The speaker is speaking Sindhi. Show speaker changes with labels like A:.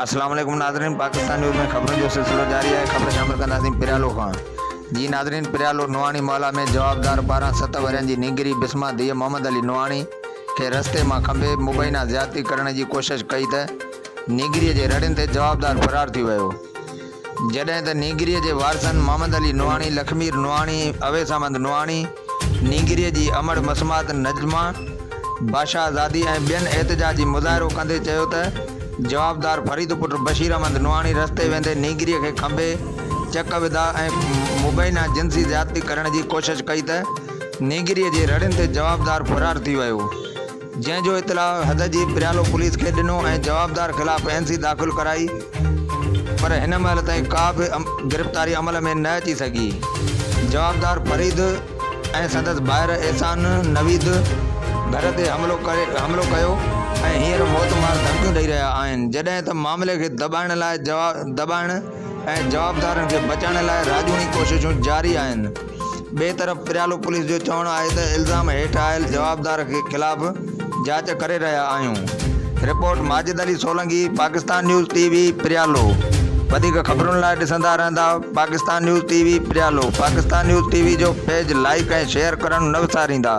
A: السلام عليڪم ناظرين پاڪستان نيوز ۾ خبرن جو سلسلو جاري آهي خبر شامل ڪنداسين پريالو کان جي ناظرين پريالو نوحاڻي محلا ۾ جوابدار ٻارهن ست ورهين جي نينگري بسما ڌيء محمد علي نوحاڻي کي رستي مان کنڀي مبينا زيادتي ڪرڻ جي ڪوشش ڪئي ته نينگري جي رڙين تي جوابدار فرار ٿي ويو جڏهن ته نينگري جي وارثن محمد علي نوحاڻي لکمير نوحاڻي اويس احمد نوحاڻي نينگريء جي امڙ مسمات نجمه باشا زادي ۽ ٻين احتجاجي مظاهرو ڪندي چيو ته جوابدار فريد پٽ بشير احمد نوحاڻي رستي ويندي نينگريء کي کنڀي چڪ وڌا ۽ مبينا جنسي زيادتي ڪرڻ جي ڪوشش ڪئي ته نينگريء جي رڙين تي جوابدار فرار ٿي ويو. جنهن جو اطلاع حد جي پريالو پوليس کي ڏنو ۽ جوابدار خلاف اين سي داخل ڪرائي پر هن مهل تائين ڪا به گرفتاري عمل ۾ نه اچي سگهي جوابدار فريد ۽ سندس ڀائر احسان نويد گهر تي حملو ڪري حملو ڪيو ۽ هينئر موت مار ڌمڪيون ڏئي رهيا آهن جڏهن ته معاملي کي دٻائڻ لاء دٻائڻ ۽ جوابدارن کي بچائڻ لاء راڄوڻي ڪوششون جاري آهن. ٻئي طرف پريالو پوليس جو چوڻ آهي ته الزام هيٺ آيل جوابدار خلاف جاچ ڪري رهيا آهيون. Report Majid Ali Solangi Pakistan news T V پريالو وڌيڪ خبرن لاء ڏسندا رهندا پاڪستان نيوز ٽي وي پريالو پاڪستان نيوز ٽي وي جو پيج لائيڪ ۽ شيئر ڪرڻ نه وساريندا.